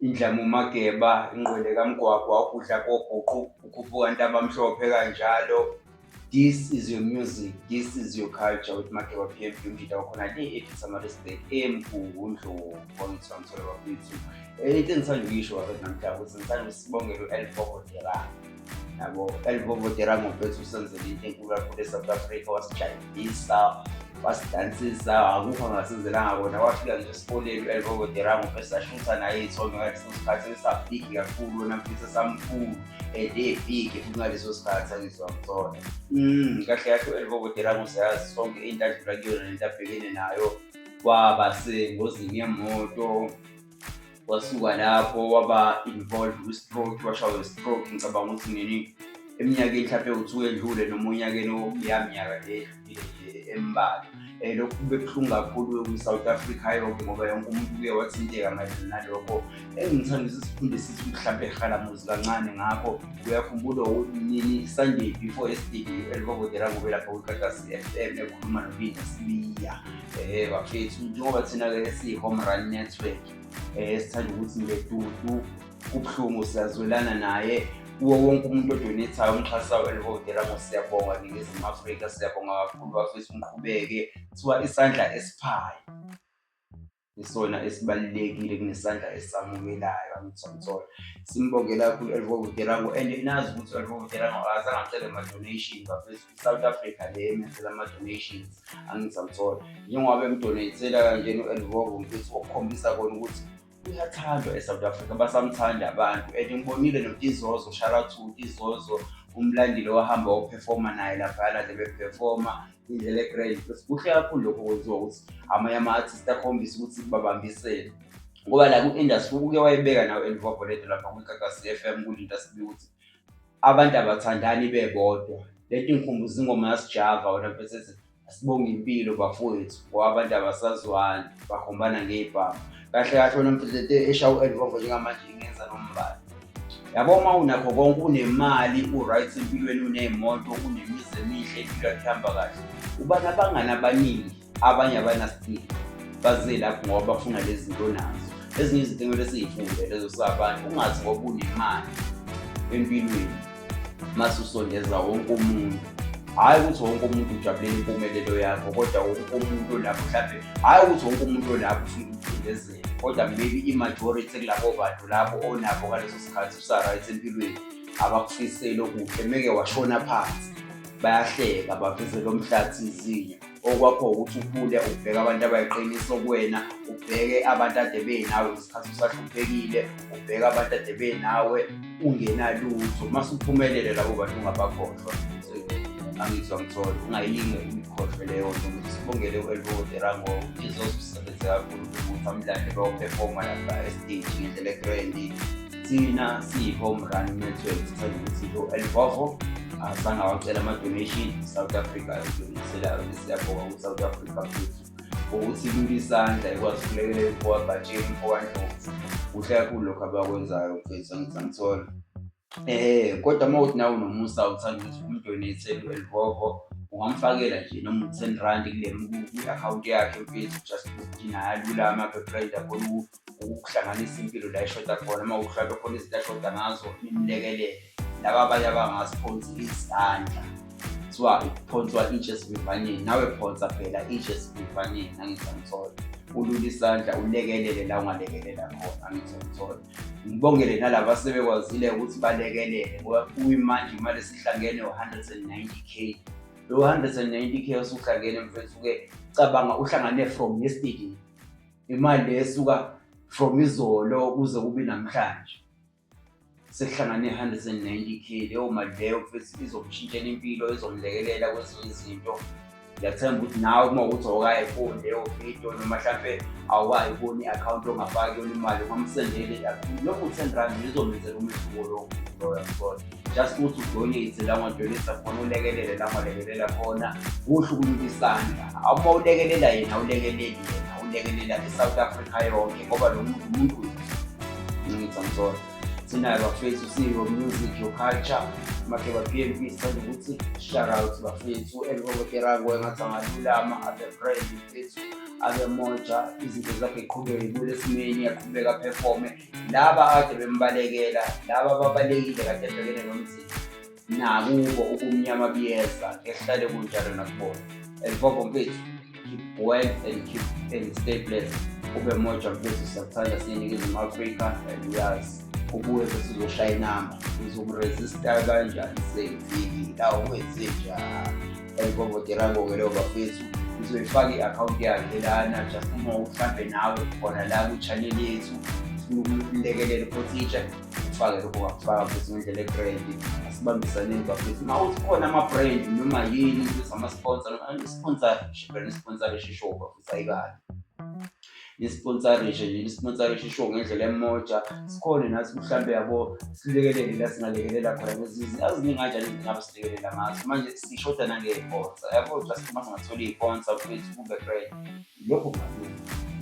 Indlamu Mageba, Ingqwele kaMgwagwa, Ukudla Kobhuqu, Ukhuphuka Ntabamhlophe kanjalo. This is your music, this is your culture with Mageba PMP umjita wakhona le ethi Samarisburg eMgungundlovu kwangithiwa ngithola bakwethu. Eh, into engisanda ukuyisho wakwethu namhla ukuthi ngisanda usibongela u-Elfoko Derang. yabo elivovotera ngobethu usenzela into enkulu kakhulu esouth africa wasijayivisa wasidansisa akukho angasenzelanga kona wafika nje esikoleni elivovotera ngobe sashutha naye iy'thondo ngaleso sikhathi esabhigi kakhulu wona mfisa samkhulu and ebhigi futhi ngaleso sikhathi angizwa msona mm, kahle kahle elivovotera ngoseyazi sonke into adlula kuyona nento abhekene nayo kwaba sengozini yemoto wasuka lapho waba involved kwi-stroke washawa i-stroke ngicabanga ukuthi nini eminyakeni mhlawumpe uthiwa edlule noma onyakeni okuyaminyaka le embalwa um lokhu kube buhlungu kakhulu kwi-south africa yonke ngoba yonke umuntu uye wathinteka mayelana nalokho engithanda ukuthi sifunde sithi mhlawumpe ehalamuzi kancane ngakho uyakhumbula nini sunday before yesterday elikobodela kube lapho kwikatasi FM ekhuluma noBinda Sibiya eh bafethu njengoba thina ke si home run network eh sithanda ukuthi nje dudu kubuhlungu siyazwelana naye kuwo wonke umuntu odonethayo umxhasa welivotela ngo siyabonga ningizimu afrika siyabonga kakhulu bafethu niqhubeke kuthiwa isandla esiphayo isona esibalulekile kunesandla esamukelayo amithomthola simbongela kakhulu u-elvo vutelango and nazi ukuthi u-elvo vutelango akazange acele ama-donation bafethu i-south africa le emenzela ama-donations angithomthola njengoba bemdonatela kanjena u-elvo mfethu okukhombisa kona ukuthi uyathandwa e-south africa basamthanda abantu and ngibonile notizozo shout out to tizozo umlandile wahamba wophefoma naye laphayana nje bephefoma indlela egrade because kuhle kakhulu lokho kwenziwa ukuthi amanye ama-artist akhombise ukuthi babambisele ngoba la ku-industry uke wayibeka nawe elivavoledo lapha kwikakasi f m kulinto asibi ukuthi abantu abathandani bebodwa lento ingikhumbuza ingoma yasijava wena mfethu ethi asibonge impilo bafowethu ngoba abantu abasazwani bakhombana ngey'bhamu kahle kahle wena mfethu esha u-envovo njengamanje ingenza nombala yabo uma unakho konke unemali u-right empilweni uney'moto unemizi emihle impilo yakhe ihamba kahle uba nabangani abaningi abanye abanasipili baze lapho ngoba bafuna lezi zinto nazo ezinye izinto ekumele siyifunde lezo sabantu ungazi ngoba unemali empilweni mase usondeza wonke umuntu hhayi ukuthi wonke umuntu ujabulela impumelelo yakho kodwa wonke umuntu olapho mhlawumbe hhayi ukuthi wonke umuntu olapho ufuna ukucindezela kodwa maybe i-majority kulabo bantu labo onabo ngaleso sikhathi usa-right empilweni abakufisele okuhle meke washona phansi bayahleka baveze lo mhlathi izinyo okwakho ukuthi ukhule ubheke abantu abayiqiniso kuwena ubheke abantu ade benawe ngesikhathi usahluphekile ubheke abantu ade benawe ungenalutho uma suphumelele labo bantu ungabakhohlwa angizwa mthole ungayilinge imikhohlwe leyo nto ukuthi sibongele u-elvodera ngokuthi zozisebenzeka kakhulu ukuthi amlande bayophefoma lapha estage ngendlela egrandi thina siyi-home run network sithole ukuthi lo elvovo azange awacela ama-donation south africa ayodonasela siyabhoka ku-south africa futhi ukuthi kulula isandla ikwazi ukulekelela ukuwabhatsheni mfowandlovu kuhle kakhulu lokhu abakwenzayo mfethu angithola um kodwa uma uthi nawe nomusa uthanda ukuthi umdonethele u-elvovo ungamfakela nje noma u-ten rand kwi-akhawunti yakhe mfethu just ukuthi naye alulame aphe pride abone ukuhlanganisa impilo la ishoda khona uma uhlwabe khona izinto ashoda ngazo nimlekelele laba abanye abangaziphonsi izandla kuthiwa iphonswa itshe esivivaneni nawe phonsa phela itshe esivivaneni angisamthola ulula isandla ulekelele la ungalekelela khona angisamthola ngibongele nalaba sebekwazile ukuthi balekelele ngoba kuyimanje imali esihlangene u-190 k lo 190 k osuhlangene mfethu-ke cabanga uhlangane from yesterday imali le esuka from izolo kuze kube namhlanje sekuhlangane 190 k leyo mali leyo futhi izomshintshela impilo izomlekelela kwezinye izinto ngiyathemba ukuthi nawe uma ukuthi awukayifuni leyo video noma mhlampe awukayiboni i-akhawunti ongafaki yona imali ungamsendeli lokhu ten rand izomenzela umehluko lokhu loyo just ukuthi udonate la ngodonate khona ulekelele la ngolekelela khona kuhle ukulula isandla uma ulekelela yena ulekeleli yena ulekelela i-south africa yonke ngoba lo muntu umuntu ngithi amsona sinayo bafethu siyo music your culture make ba-p m p sithanda ukuthi shoutout bafethu elikokoterango engathi angalulama abe friend bafethu abe moja izinto zakhe qhubeke kule simeni aqhubeka performe laba akade bembalekela laba babalekile kade ebhekene nomzimba nakubo ubumnyama buyeza ehlale kunjalo nakubona and bobo mfethu keep well and keep and stay blessed ube moja mfethu siyakuthanda siyeningizimu afrika and uyazi ubuye bese uzoshaya inamba uzokuresista kanjani seyifiki la uwenze njani elibobotela bonke leyo bafethu uzoyifaka i-akhawunti yakhe lana just uma uhlambe nawe khona la kwi-channel yethu ulekelele photija ufake lokho wakufaka futhi ngendlela ebrandi asibambisaneni bafethu uma uthi khona ama-brand noma yini ama-sponsor ama-sponsor brand sponsorship show bafethu ayikani nisponsarishe nje nisponsarishe isho ngendlela emoja sikhone nathi mhlawumbe yabo silekelele la singalekelela khona ngezizi aziningi kanjani izingabe silekelela ngazo manje sishoda nangey'ponsa yabo just uma singathola iy'ponsa kwethu kube right lokho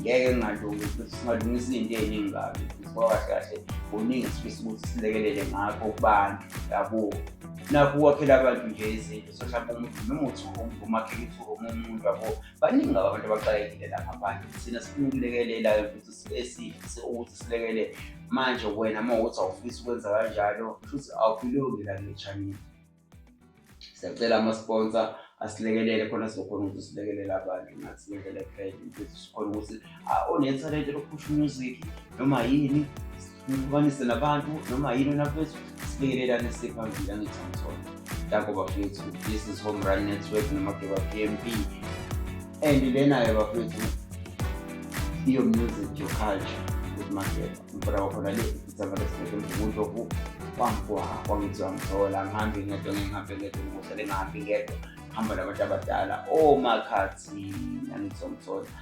ngeke ngingalungi futhi singalungisa izinto ey'ningi kabi futhi kwakahle kahle kuningi esifisa ukuthi silekelele ngakho kubantu yabo nakho ukwakhela abantu nje izinto so mhlawumbe umuntu noma uthi umakhelisa umuntu yabo baningi ngabo abantu abaxakekile la ngaphandle thina sifuna ukulekelela futhi esifise ukuthi silekelele manje wena uma ukuthi awufisi ukwenza kanjalo futhi awukulungi la ngechanini siyacela ama-sponsor asilekelele khona sizokhona ukuthi silekelele abantu ngathi ngendlela ekhayile ukuthi sikhona ukuthi onethalente lokuphusha umuziki noma yini nihlukanise nabantu noma yini onaphethu sibingelelane siphambili angithi angithole danko bafethu this is home run network nomakeba pmp and lenayo bafethu iyo music your culture with makeba mfana wakhona le isamarespect mvumuntu oku kwamkuha kwangithi wamthola ngihambe ngedwa ngihambe ngedwa ngikuhlele ngihambe ngedwa hamba nabantu abadala omakhathi angithi wamthola